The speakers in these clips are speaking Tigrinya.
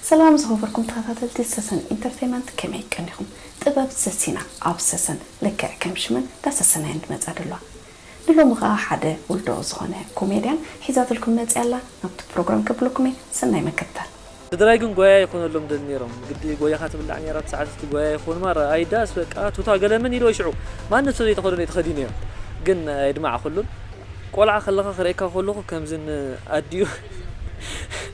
ሰላም ዝኸበርኩም ተኸታተልቲ ሰሰን ኢንተርተይመንት ከመይ ቀኒኹም ጥበብ ሰሲና ኣብ ሰሰን ልክዕ ከም ሽመን እንዳ ሰሰናየን ትመጽኣ ደሏ ንሎሚ ከኣ ሓደ ውልዶ ዝኾነ ኮሜድያን ሒዛትልኩም መጺኣ ኣላ ናብቲ ፕሮግራም ከብለኩም እየ ሰናይ መከታል። ስድራይ ግን ጎያያ ይኮነሎም ደል ኔሮም ግዲ ጎይኻ ትብላዕ ኔራ እቲ ሰዓት እቲ ጎያያ ይኮን ማራ ኣይ ዳስ በቃ ቱታ ገለ ምን ኢልወ ሽዑ ማንም ሰብ ዘይተኸደኖ እዩ ተኸዲነዮ ግን ኣየድማዕኩሉን ቆልዓ ከለኻ ክርእየካ ከለኹ ከምዚ ን ኣዲኡ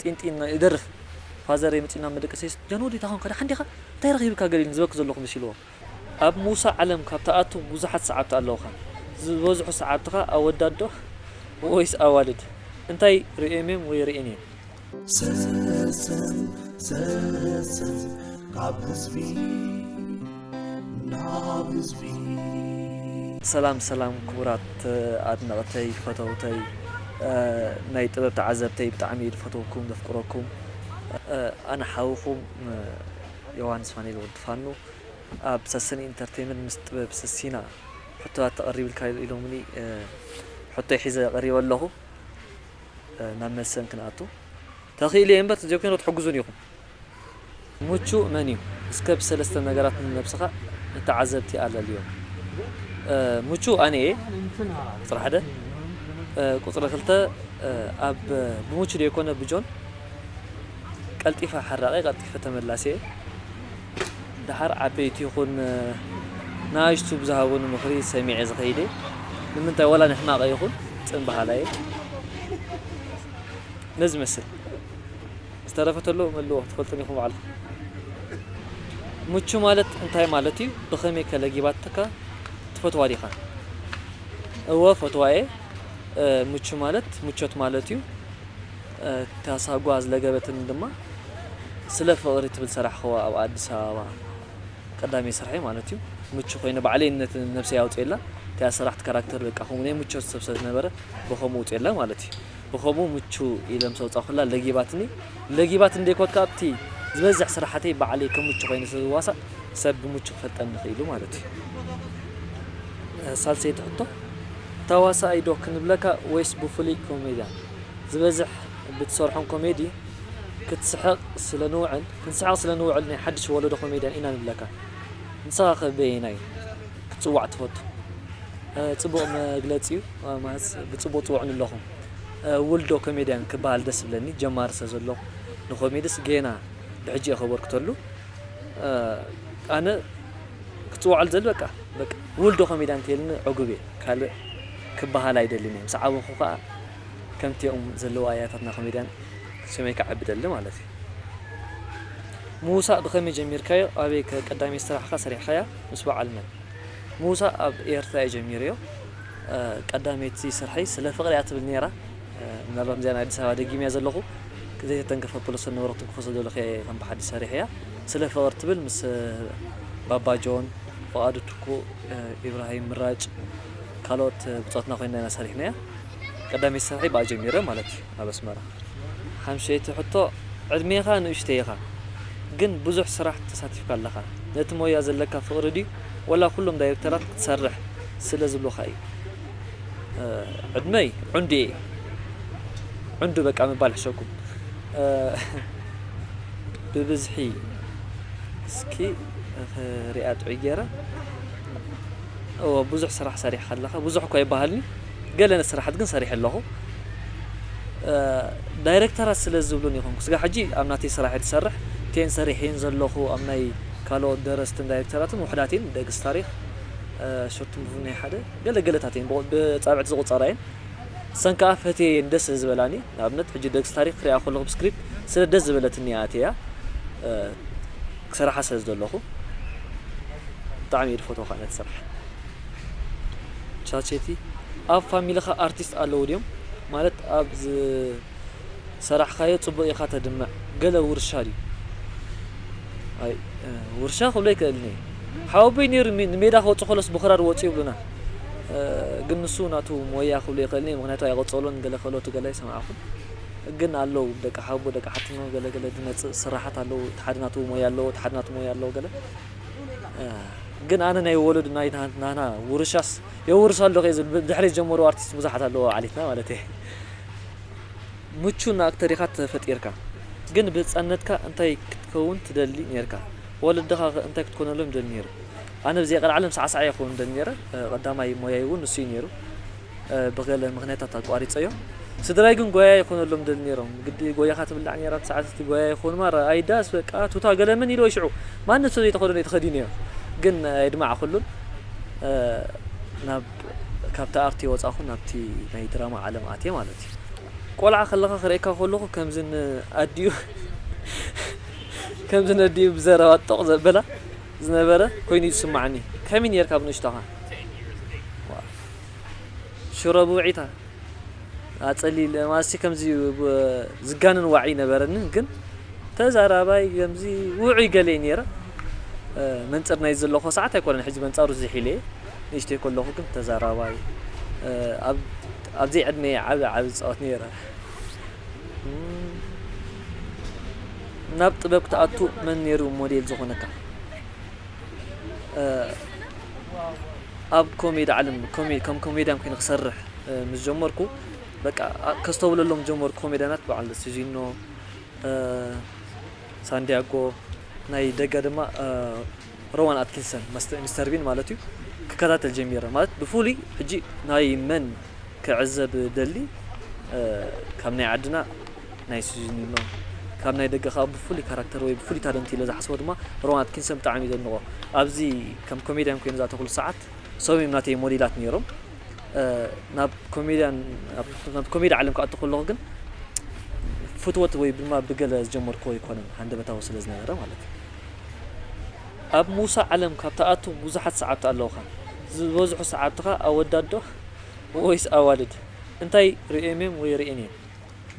ጢንጢን ናይ እደርፍ ፋዘረይ መጺኡና መደቀሲስ ጃን ወዲ ዳኾንካ ዳሓን ዲኻ እንታይ ረኺብካ ገለ ኢልኒ ዝበኪ ዘለኹ መሲልዎ ኣብ ምውሳእ ዓለም ካብ ትኣቱ ቡዙሓት ሰዓብቲ ኣለውኻ ዝበዝሑ ሰዓብትኻ ኣወዳት ዶ ወይስ ኣዋልድ እንታይ ሪኦም እዮም ወይ ሪኤን እየን ስስን ስስን ካብ ህዝቢ። ናብ ህዝቢ። ሰላም ሰላም ክቡራት ኣድነቅተይ ፈተውተይ ናይ ጥበብ ተዓዘብተይ ብጣዕሚ እየ ዝፈትወኩም ዘፍቅረኩም ኣነ ሓውኩም ዮውሃንስ ፋኒኤል ወዲ ፋኑ ኣብ ሰስን ኢንተርቴመንት ምስ ጥበብ ሰሲና ሕቶታት ተቀሪብልካ ኢሎምኒ ሕቶይ ሒዘ ቀሪበ ኣለኹ ናብ መልሰን ክንኣቱ ተኽኢለ እየ እምበር ተዘይኮይኑ ክትሕግዙኒ ኢኹም ምቹእ መን'ዩ? እስከ ብሰለስተ ነገራት ንነብስኻ ንተዓዘብቲ ኣለልዮም። a ምቹእ ኣነ'የ፣ ጥራሕ ደ? ቁጽሪ ክልተ፣ ኣብ ብምቹእ ደይኮነ ብጆን ቀልጢፈ ሓራቒ ቀልጢፈ ተመላሲ'የ። ደሓር ዓበይቲ ይኹን ንኣሽቱ ብዝሃቡኒ ምኽሪ ሰሚዐ ዝኸይድ'የ። ንምንታይ ዋላ ንሕማቐይ ይኹን ጽን በሃላይ'የ። ነዚ ይመስል። ዝተረፈ ተሎ መልዎ ትፈልጥን ኢኩም ባዕልኩም። ምቹ ማለት እንታይ ማለት እዩ ብከመይ ከ ለጊባትካ ትፈትዋ ዲካ። እወ እፈትዋ እየ ምቹ ማለት ምቾት ማለት እዩ እታ ሳጓ ዝለገበትኒ ድማ ስለ ፍቅሪ ትብል ሰራሕክዋ ኣብ ኣዲስ ኣበባ ቀዳመይ ስርሐይ ማለት እዩ ምቹ ኮይነ ባዕለይ ነቲ ነብሰይ ኣውጽኤላ እቲኣ ሰራሕት ካራክተር በቃ ከምኡ ናይ ምቾት ሰብ ስለ ዝነበረ ብከምኡ ውጽኤላ ማለት እዩ። ብከምኡ ምቹ ኢለ ምስ ኣውጻኹላ ለጊባትኒ። ለጊባት እንድየ ኮት ከኣ ኣብቲ ዝበዝሕ ስራሓተይ ባዕለይ ከም ምቹ ኮይነ ስለ ዝዋሳእ ሰብ ብምቹ ክፈልጠኒ ክኢሉ ማለት እዩ። ሳልሰይቲ ሕቶ፣ ተዋሳኣይ ዶ ክንብለካ ወይስ ብፍሉይ ኮሜድያን? ዝበዝሕ ብትሰርሖም ኮሜዲ ክትስሕቕ ስለ ንውዕል ክንስሕቕ ስለ ንውዕል ናይ ሓድሽ ወለዶ ኮሜድያን ኢና ንብለካ። ንስኻኸ በየናይ? ክትጽዋዕ ትፈቱ ጽቡቅ መግለጺ ዩ ማለት ብጽቡቅ ጽውዑኒ ኣለኹም ውልዶ ኮሜድያን ክበሃል ደስ ዝብለኒ ጀማሪ ስለ ዘለኹ ንኮሜድስ ጌና ብሕጂ እየ ከበርክተሉ ኣነ ክጽውዓሉ ዝደሊ በቃ በቃ ውልዶ ኮሜድያን እንተይልኒ ዕጉብ እየ ካልእ ክበሃል ኣይደልን እየ ምስ ዓበኹ ከኣ ከምቲኦም ዘለዉ ኣያታትና ኮሜድያን ሰመይ ክዓቢ ደሊ ማለት እዩ ምውሳእ ብኸመይ ጀሚርካዮ ኣበይ ከ ቀዳመይቲ ስራሕካ ሰሪሕካያ ምስ በዓል መን ምውሳእ ኣብ ኤርትራ እየ ጀሚረዮ ቀዳመይቲ ስርሐይ ስለ ፍቅሪ እያ ትብል ኔራ ምናልባት እዚኣ ናይ ኣዲስ ኣበባ ደጊመያ ዘለኹ ዘይተተንከፈ ፕሎሰን ንብረትን ክኸሶ ዘለኹ እየ ከም ብሓዲሽ ሰሪሐያ ስለ ፍቅሪ ትብል ምስ ባባ ጆን ፍቃዱ ትኩ ኢብራሂም ምራጭ ካልኦት ብጾትና ኮይና ኢና ሰሪሕናያ ቀዳመይቲ ስርሐይ ብኣ ጀሚረ ማለት እዩ። ናብ ኣስመራ። ሓምሸይቲ ሕቶ፣ ዕድሜኻ ንእሽተይ ኢኻ፣ ግን ብዙሕ ስራሕ ተሳቲፍካ ኣለኻ። ነቲ ሞያ ዘለካ ፍቕሪ ድዩ ወላ ኩሎም ዳይረክተራት ክትሰርሕ ስለ ዝብሉኻ እዩ? ዕድመይ ዑንዱ እየ። ዑንዱ በቃ ምባል ሕሸኩም። ብብዝሒ እስኪ ሪኣ ጥዑይ ጌረ። እወ ብዙሕ ስራሕ ሰሪሕካ ኣለኻ፣ ብዙሕ እኳ ኣይበሃልን'ዩ። ገለ ስራሓት ግን ሰሪሐ ኣለኹ ዳይረክተራት ስለ ዝብሉኒ ይኹን ክስጋብ ሕጂ ኣብ ናተይ ስራሕ እየ ዝሰርሕ እቲኤን ሰሪሐየን ዘለኹ ኣብ ናይ ካልኦት ደረስትን ዳይረክተራትን ውሑዳት እየን ደግስ ታሪኽ ሾርት ሙቪ ናይ ሓደ ገለ ገለታት እየን ብጻብዕቲ ዝቑጸራ እየን ሰን ከኣ ፈትየየን ደስ ስለ ዝበላኒ ንኣብነት ሕጂ ደግስ ታሪኽ ክሪኣ ከለኹ ብስክሪፕት ስለ ደስ ዝበለትኒ እያ ኣትያ ክሰርሓ ስለ ዘለኹ ብጣዕሚ እየ ዝፈትዎ ከኣ ነቲ ስራሕ ቻቼቲ ኣብ ፋሚልኻ ኣርቲስት ኣለዉ ድዮም ማለት ኣብ ዝሰራሕኻዮ ጽቡቅ ኢኻ ተድምዕ ገለ ውርሻ ድዩ ኣይ ውርሻ ክብሎ ኣይክእልን እየ ሓወቦይ ኔሩ ንሜዳ ክወጽእ ከሎስ ብክራር ወጹ ይብሉና ግን ንሱ ናቱ ሞያ ክብሎ ኣይክእልን እየ ምክንያቱ ኣይቀጸሎን ገለ ክእለቱ ገለ ኣይሰማዕኩን ግን ኣለዉ ደቂ ሓቦ ደቂ ሓትኖ ገለ ገለ ዝመጽእ ስራሓት ኣለዉ እቲ ሓደ ናቱ ሞያ ኣለዎ እቲ ሓደ ናቱ ሞያ ኣለዎ ገለ ግን ኣነ ናይ ወለዱ ናይ ናህና ውርሻስ የውርስ ኣሎ ከይ ዝብል ብድሕሪ ዝጀመሩ ኣርቲስት ብዙሓት ኣለዎ ዓሊትና ማለት እየ ምቹን ኣክተር ኢኻ ተፈጢርካ ግን ብህፃነትካ እንታይ ክትከውን ትደሊ ነርካ ወለድኻ ከ እንታይ ክትኮነሎም ይደሊ ነይሩ ኣነ ብዘይ ቀልዓለም ሳዕሳዕ እየ ክኸውን ደሊ ነይረ ቀዳማይ ሞያይ እውን ንሱ እዩ ነይሩ ብገለ ምኽንያታት ኣቋሪጸዮ። ስድራይ ግን ጓያይ ክኾነሎም ይደልዩ ነይሮም። ግዲ ጓያኻ ትብላዕ ነይራ እቲ ሰዓት እቲ ጓያይ ክኾኑ ማራ ኣዲዳስ በቃ ቱታ ገለ ምን ኢልዎ ሽዑ ማንም ሰብ ዘይተኸደኖ እዩ ተኸዲነዮ ግን ኣየድማዕኩሉን ናብ ካብቲ ኣርቲ ወጻኹ ናብቲ ናይ ድራማ ዓለም ኣትየ ማለት እዩ። ቆልዓ ከለኻ ክርእየካ ከለኹ ከምዚ ን ኣዲኡ ከምዚ ነዲኡ ብዘረባ ጦቕ ዘብላ ዝነበረ ኮይኑ እዩ ዝስማዓኒ። ከመይ ነይርካ ብንእሽቶኻ? ሽሮ ብውዒታ ኣጸሊል ማለትሲ ከምዚ ዝጋነን ዋዒ ነበረኒ ግን ተዛራባይ ከምዚ ውዑይ ገለ ነይረ መንጽር ናይ ዘለኹ ሰዓት ኣይኮነን ሕጂ መንጻሩ ዝሒለ ንእሽተይ ከለኹ ግን ተዛራባይ ኣብ ዘይዕድመይ ዓቢ ዓቢ ዝጻወት ነይረ ናብ ጥበብ ክትኣቱ መን ነይሩ ሞዴል ዝኾነካ? ኣብ ኮሜዲ ዓለም ከም ኮሜድያን ኮይነ ክሰርሕ ምስ ጀመርኩ በቃ ከስተውለሎም ጀመርኩ ኮሜድያናት በዓል ሲዚኖ ሳንድያጎ ናይ ደገ ድማ ሮዋን ኣትኪንሰን ሚስተር ቢን ማለት እዩ ክከታተል ጀሚረ ማለት ብፍሉይ ሕጂ ናይ መን ክዕዘብ ደሊ ካብ ናይ ዓድና ናይ ሲዚኒኖ ካብ ናይ ደገ ከኣ ብፍሉይ ካራክተር ወይ ብፍሉይ ታለንት ኢለ ዝሓስቦ ድማ ሮዋን ኣትኪንሰን ብጣዕሚ ኢየ ዘድንቖ ኣብዚ ከም ኮሜድያን ኮይኑ ዝኣተኹሉ ሰዓት እሶም ኢዮም ናተይ ሞዴላት ኔሮም ናብ ኮሜድያን ናብ ኮሜዲ ዓለም ክኣቱ ከለኹ ግን ፍትወት ወይ ድማ ብገለ ዝጀመርኩዎ ኣይኮነን ሃንደበታዊ ስለ ዝነበረ ማለት እዩ ኣብ ሙሳ ዓለም ካብ ትኣቱ ብዙሓት ሰዓብቲ ኣለውኻ ዝበዝሑ ሰዓብትኻ ኣወዳት ዶ ወይስ ኣዋልድ እንታይ ርኤሜም ወይ ርኤን እየን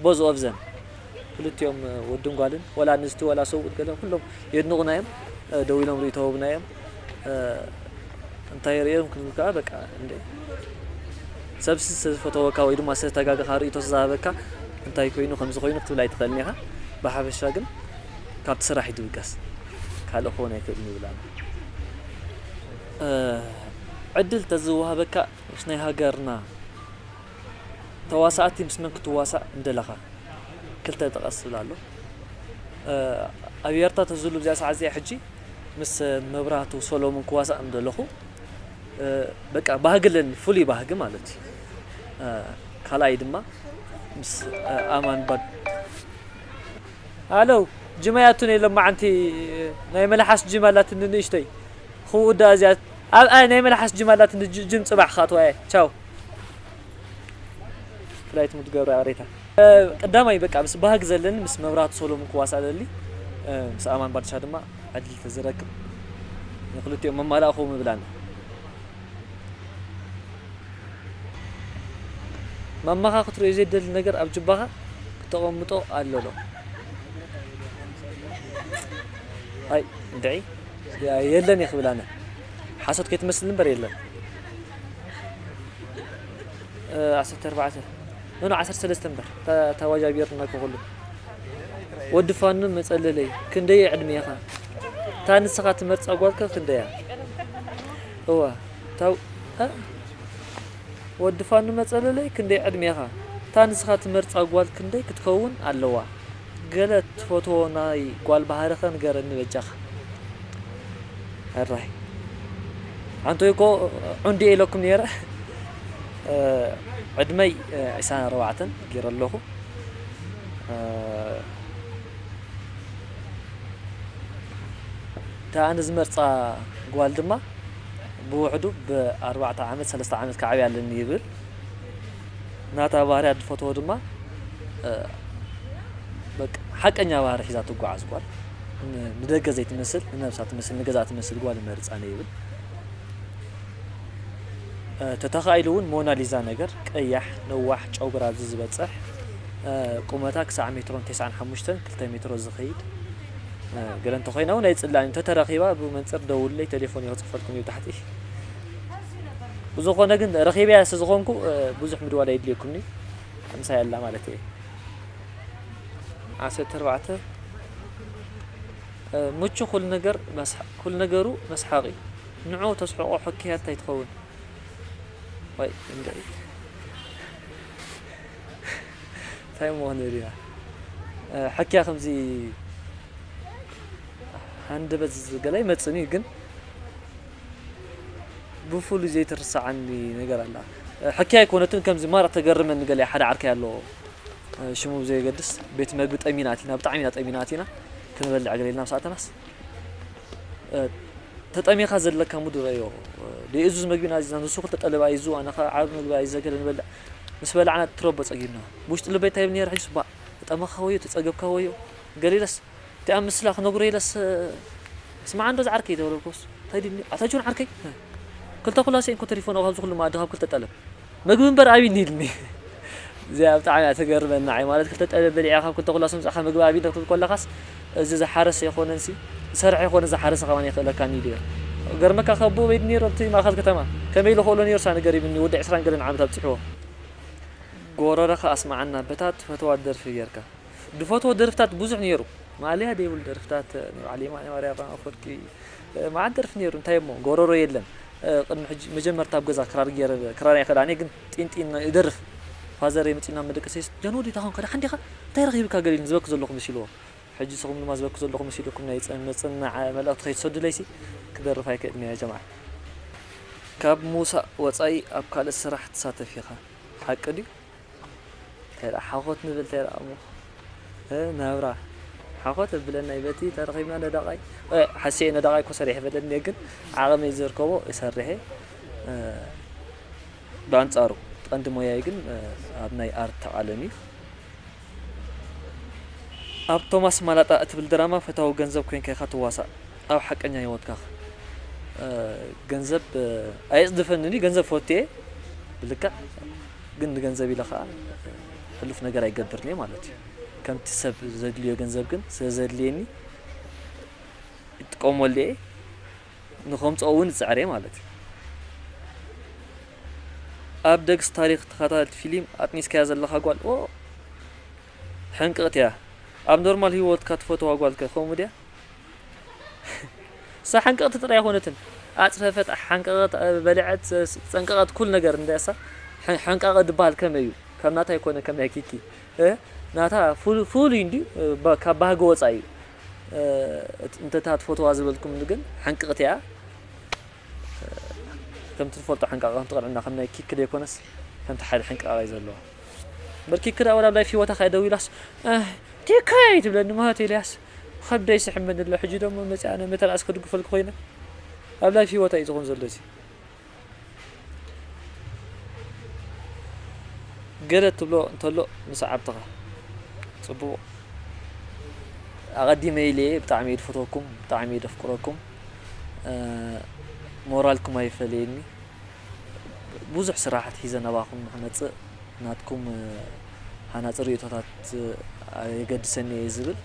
ቦዝ ኦቭዘም ክልቲኦም ወድን ጓልን ወላ ኣንስቲ ወላ ሰብኡት ገለ ኩሎም የድንቑና እዮም ደው ኢሎም ርእይቶ ህቡና እዮም እንታይ ርእዮም ክብል ከኣ በቃ እንደ ሰብ ዝተፈተወካ ወይ ድማ ዝተጋገኻ ርእይቶ ዝሃበካ እንታይ ኮይኑ ከምዚ ኮይኑ ክትብል ኣይትኽእልን ኢኻ ብሓፈሻ ግን ካብቲ ስራሕ እዩ ዝብገስ ካልእ ክኾን ኣይክእልን ይብል ኣሎ ዕድል ተዝወሃበካ ምስ ናይ ሃገርና ተዋሳእቲ ምስ መን ክትዋሳእ ምደለኻ ክልተ ጥቐስ ዝብል ኣሎ ኣብ ኤርትራ ተዝህሉ ኣብዚኣ ሰዓት እዚኣ ሕጂ ምስ መብራህቱ ሰሎሙን ክዋሳእ ምደለኹ በቃ ባህጊ ኣለኒ ፍሉይ ባህጊ ማለት እዩ ካልኣይ ድማ ምስ ኣማን ባድ ኣለው ጅማ ያቱን የሎም ማዓንቲ ናይ መልሓስ ጅማ ኣላትኒ ንእሽተይ ክውዳእ እዚኣ ኣብ ኣይ ናይ መልሓስ ጅም ኣላት እንዶ ጅም ጽባሕ ክኣትዋ እየ ቻው ፍላይት ሙድ ገብረ ኣሬታ ቀዳማይ በቃ ምስ ባህግ ዘለኒ ምስ መብራቱ ሰሎሙን ክዋሳእ ደሊ ምስ ኣማን ባድሻ ድማ ዕድል ተዝረክብ ንክልቲኦም መማላእኹ ምብላን ማማኻ ክትሪኦ ዘይደሊ ነገር ኣብ ጅባኻ ክተቐምጦ ኣሎሎ ኣይ ድዒ የለን እየ ክብል ኣነ ሓሶት ከይትመስል እምበር የለን። ዓሰርተ ኣርባዕተ ኖኖ ዓሰርተ ሰለስተ እምበር ተዋጃቢርና ክኹሉ ወዲ ፋኑ መፀለለይ ክንደይ ዕድሜኻ እታ ንስኻ ትመርፃ ጓልከ ክንደያ እዋ ታው ወዲ ፋኑ መፀለለይ ክንደይ ዕድሜኻ እታ ንስኻ ትመርፃ ጓል ክንደይ ክትከውን ኣለዋ ገለ ትፈትዎ ናይ ጋል ባህሪ ከ ንገረኒ በጃካ ሕራይ ኣንቱይ እኮ ዑንዲ እየ ኢለኩም ነይረ ዕድመይ ዕስራን ኣርባዕተን ገይረ ኣለኩ እታ ኣነ ዝመርፃ ጋል ድማ ብውሕዱ ብ ኣርባዕተ ዓመት ሰለስተ ዓመት ክዓብያ ኣለኒ ይብል። ናታ ባህርያት ዝፈትዎ ድማ በቃ ሓቀኛ ባህሪ ሒዛ ትጓዓዝ ጓል ንደገ ዘይትመስል ንነብሳ ትመስል ንገዛ ትመስል ጓል ይመርፅ ኣነ ይብል ተተኻኢሉ እውን ሞናሊዛ ነገር ቀያሕ ነዋሕ ጨጉራ ኣብዚ ዝበፅሕ ቁመታ ክሳዕ ሜትሮን ቴስዓን ሓሙሽተን ክልተ ሜትሮ ዝኸይድ ገለ እንተኮይና እውን ኣይፅላእን ተተረኺባ ብመንፅር ደውለይ ቴሌፎን ይክፅፈልኩም እዩ ታሕቲ ብዝኾነ ግን ረኺበያ ስለዝኾንኩ ብዙሕ ምድዋል ኣየድልየኩምኒ ኣምሳያ ኣላ ማለት እየ ዓሰርተ ኣርባዕተ ምቹ ኩሉ ነገር ኩሉ ነገሩ መስሓቂ ንዑ ተስሕቆ ሕክያ እንታይ ትኸውን ወይ እንታይ ምኾነ ሪና ሕክያ ከምዚ ሃንደበት ገላ ይመፅን እዩ ግን ብፉሉይ ዘይትርሳዓኒ ነገር ኣላ ሕክይ ኣይኮነትን ከምዚ ማራ ተገርመኒ ገለ ሓደ ዓርከይ ኣሎ ሽሙ ብዘየገድስ ቤት መግቢ ጠሚና ኣቲና ብጣዕሚ ኢና ጠሚና ኣቲና ክንበልዕ ገለ ኢልና ምስ ኣተናስ ተጠሚኻ ዘለካ ሙድ ረዮ ደየእዙዝ መግቢ ኢና ኣዚዝና ንሱ ክልተ ጠለብ ኣይዙ ኣነ ከዓ ዓብ መግቢ ኣይዘ ገለ ንበልዕ ምስ በላዕና ትረቦ ፀጊብና ብውሽጢ ልበይ እንታይ ይብል ነይረ ሕጅስ ባእ ተጠመኻ ወዮ ተፀገብካ ወዮ ገለ ኢለስ እቲ ኣብ ምስላ ክነግሮ ኢለስ ስማዕ እንዶ ዝዓርከይ ተበለልኩስ እንታይ ድዩኒ ኣታ ጆን ዓርከይ ክልተ ኩላሰይ እንኮ ተሪፎን ካብዚ ኩሉ መኣዲ ካብ ክልተ ጠለብ መግቢ እምበር ኣቢኒ ኢሉኒ እዚኣ ብጣዕሚ እያ ተገርመኒ ንዓይ ማለት ክልተ ጠለብ በሊዕካ ካብ ክልተ ኩላሰ ምጻእካ መግቢ ኣቢኒ ክትብል ኮለካስ እዚ ዝሓረሰ ኣይኮነንሲ ዝሰርሐ ኣይኮነ ዝሓረሰ ከማን ኣይክእለካን ኢሉ ኢየ ገርመካ ካብ ኣቦኡ በይድ ነይሩ ኣብቲ ማእከል ከተማ ከመይ ኢሉ ክእሎ ነይሩ ሳኒ ገሪምኒ ወዲ ዕስራን ገለን ዓመት ኣብጺሕዎ ጎረረኻ ኣስማዓና በታ ትፈትዋ ደርፊ ጌርካ። ድፈትዎ ደርፍታት ብዙሕ ኔሩ ማእለያ ደይብሉ ደርፍታት ናይ በዓል የማነ ማርያም ኣፈወርቂ መዓት ደርፊ ኔሩ እንታይ እሞ ጎሮሮ የለን ቅድሚ ሕጂ መጀመርታ ኣብ ገዛ ክራር ገይረ ክራር ኣይክእላን እየ ግን ጢን ጢን እደርፍ ፋዘረይ መጺኡና መደቀሰይስ ጃን ወዲ ታኾንካ ደሓን ዲኻ እንታይ ረኺብካ ገሊኒ ዝበኪ ዘለኹ መሲልዎ ሕጂ ንስኹም ድማ ዝበኪ ዘለኹ መሲልኩም ናይ መጽናዕ መልእኽቲ ከይትሰዱለይሲ ክደርፍ ኣይክእልን እየ ጀምዓ ካብ ምውሳእ ወጻኢ ኣብ ካልእ ስራሕ ትሳተፍ ኢኻ ሓቂ ድዩ? ተራ ሓኾት ንብል ተራ እሞ እ ናብራ ሓኾት ኣብለና እዩ በቲ ተረኺብና ነዳቓይ እ ሓሲኤ ነዳቓይ እኮ ሰሪሐ በለኒ ግን ዓቕመይ ዘርከቦ እሰርሔ እ ብኣንጻሩ ቀንዲ ሞያይ ግን እ ኣብ ናይ ኣርት ዓለም እዩ ኣብ ቶማስ ማላጣ እትብል ድራማ ፈታዊ ገንዘብ ኮይንካ ኢኻ ትዋሳእ ኣብ ሓቀኛ ሂወትካኽ እ ገንዘብ ኣየጽድፈንን እዩ ገንዘብ ፈቱ እየ ብልክዕ ግን ንገንዘብ ኢለ ከኣ ሕሉፍ ነገር ኣይገብርን እየ ማለት እዩ። ከምቲ ሰብ ዘድልዮ ገንዘብ ግን ስለ ዘድልየኒ ይጥቀመሉ እየ፣ ንኸምጽኦ እውን እጽዕር እየ ማለት እዩ። ኣብ ደግስ ታሪኽ ተኸታተልቲ ፊሊም ኣጥኒስካያ ዘለኻ ጓል ኦእ ሕንቅቕቲ እያ ኣብ ኖርማል ሂወትካ ትፈትዋ ጓልከ ከምኡ ድያ እሳ ሓንቀቅቲ ጥራይ ኣይኮነትን ኣጽፈፈት ሓንቀቀት በለዐት ጸንቀቀት ኩሉ ነገር እንዳ እሳ ሓንቃቀ ድባሃል ከመይ እዩ ከም ናታ ኣይኮነን ከም ናይ ኪኪ ናታ ፍሉይ እንድዩ ካብ ባህጊ ወጻኢ እዩ እንተታ ትፈትዋ ዝበልኩምኒ ግን ሓንቅቅቲ እያ ከምቲ ትፈልጦ ሓንቃቀ ከምቲ ቅንዕና ከም ናይ ኪኪ ዘይኮነስ ከምቲ ሓደ ሕንቃቀ እዩ ዘለዎ እምበር ኪኪ ደኣ ወላ ኣብ ላይፍ ሂወታ ከኣ ደው ኢላስ ቲከይ ትብለኒ ማለት ኤልያስ ኸብደይ ይስሕበኒ ኣሎ ሕጂ ዶሞ መጺኣ ናይ መተባእሲ ክድግፈልኪ ኮይነ ኣብ ላይፍ ሂወት ኣዩ ዝኮን ዘሎ እዚ ገለ ትብሎ እንተሎ ንሰዓብትካ ጽቡቁ ኣቀዲመ ኢለ እየ ብጣዕሚ እየ ድፈትወኩም ብጣዕሚ እየ ደፍቅረኩም ሞራልኩም ኣይፈለየኒ ብዙሕ ስራሕ ኣትሒዘ ናባኹም ንክመጽእ ናትኩም ሃናጺ ርእይቶታት የገድሰኒ እየ ዝብል።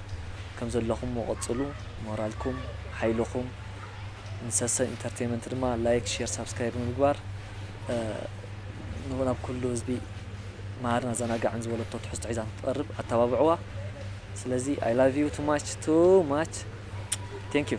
ከም ዘለኹሞ ቀጽሉ ሞራልኩም ሓይልኹም ንሰሰ ኢንተርተይመንት ድማ ላይክ ሼር ሳብስክራይብ ብምግባር ናብ ኩሉ ህዝቢ መሃርን ኣዘናጋዕን ዝበለቶ ትሕዝቶ ሒዛ ንክትቐርብ ኣተባብዕዋ። ስለዚ ኣይ ላቭ ዩ ቱ ማች ቱ ማች ቴንክ ዩ።